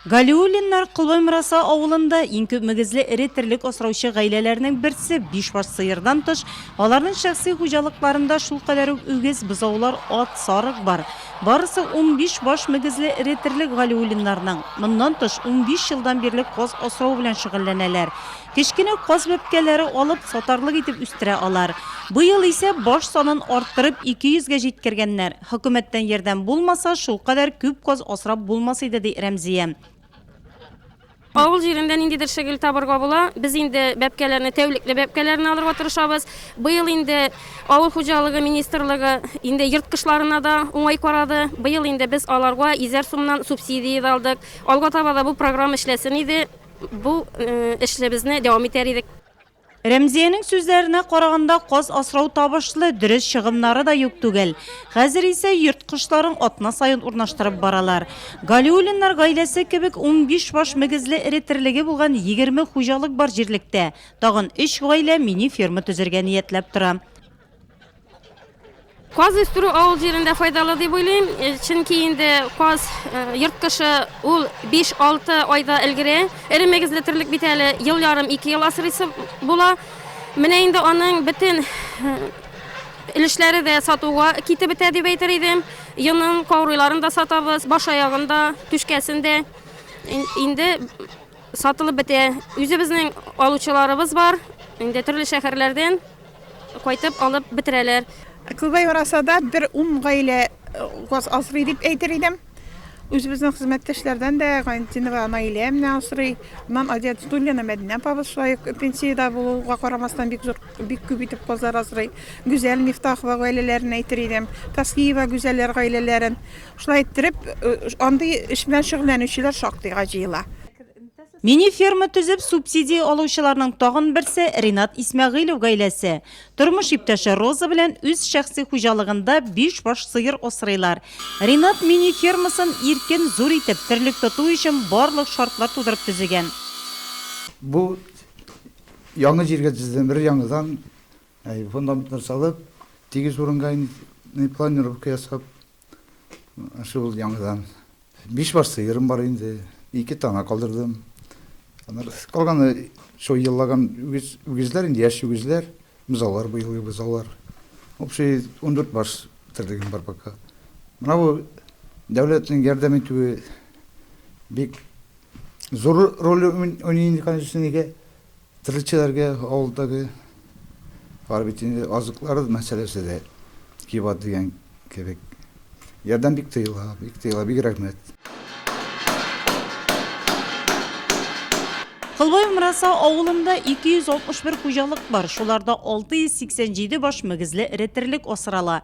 Галиуллиннар Колбаймраса авылында иң күп мөгезле эре терлек асраучы гаиләләрнең берсе, бишбаш сыердан тыш, аларның шәхси хуҗалыкларында шулкадәр үк үгез, бозаулар, ат, сарык бар. Барысы унбиш баш мөгезле эре терлек Галиуллиннарның. Моннан тыш, унбиш елдан бирле каз асрау белән шөгыльләнәләр. Кечкенә каз бәбкәләре алып, сатарлык итеп үстерә алар. Быел исә баш санын арттырып, ике йөзгә җиткергәннәр. Хөкүмәттән ярдәм булмаса, шулкадәр күп каз асрап булмас иде, ди Рәмзия. Авыл җирендә ниндидер шөгыль табырга була. Без инде бәбкәләрне, тәүлекле бәбкәләрне алырга тырышабыз. Быел инде авыл хуҗалыгы министрлыгы инде ерткычларына да уңай карады. Быел инде без аларга йөзәр сумнан субсидия дә алдык. Алга таба да бу программа эшләсен иде, бу эшлебезне дәвам итәр идек. Рәмзиянең сүзләренә караганда, каз асрау табышлы, дөрес чыгымнары да юк түгел. Хәзер исә йорт кошларын атна саен урнаштырып баралар. Галиуллиннар гаиләсе кебек унбиш баш мөгезле эре терлеге булган егерме хуҗалык бар җирлектә. Тагын өч гаилә мини-ферма төзергә ниятләп тора. Каз үстерү авыл җирендә файдалы дип уйлыйм, э, чөнки инде каз э, йорт кошы ул 5-6 айда өлгерә. Эре мөгезле терлек бит әле ел ярым, 2 ел асрыйсы була. Менә инде аның бөтен э, өлешләре дә сатуга китеп бетә дип әйтер идем. Йонын, каурыйларын да сатабыз, баш аягын да, түшкәсен дә. Инде сатылып бетә. Үзебезнең алучыларыбыз бар, инде төрле шәһәрләрдән Кайтып алып бетерәләр. Күбәй яраса да бер ун гаилә газ асрый дип әйтер идем. Үзебезнең хезмәттәшләрдән дә Гайнетдинова Наилә менә асрый. Моннан Адия Тутуллина, Мәдинә апабыз шулай ук пенсиядә булуга карамастан бик зур, бик күп итеп газлар асрый. Гүзәл Мифтахова гаиләләрен әйтер идем. Таслиева Гүзәлләр гаиләләрен. Шулай иттереп, андый эш белән шөгыльләнүчеләр шактыйга җыела. Мини-ферма төзеп субсидия алучыларның тагын берсе Ринат Исмәгыйлев гаиләсе. Тормыш иптәше Роза белән үз шәхси хуҗалыгында биш баш сыер асрыйлар. Ринат мини-фермасын иркен, зур итеп, терлек тоту өчен барлык шартлар тудырып төзегән. Бу яңа җиргә төзедем, өр-яңадан фундаментлар салып, тигез урынга планировка ясап. Шул яңадан биш баш сыерым бар инде, ике тана калдырдым. Аннары калганы шул еллаган үгез, үгезләр инде, яшь үгезләр, бозаулар быелгы бозаулар. Общий 14 баш терлегем бар пока. Менә бу дәүләтнең ярдәм итүе бик зур роль уйный инде, конечно, нигә Терлекчеләргә авылдагы бар бит инде, азыклары мәсьәләсе дә кибат дигән кебек. Ярдәм бик тыела, бик тыела, бик рәхмәт. Кылбай Умраса авылында 261 хуҗалык бар, шуларда 687 баш мөгезле эре терлек асрала.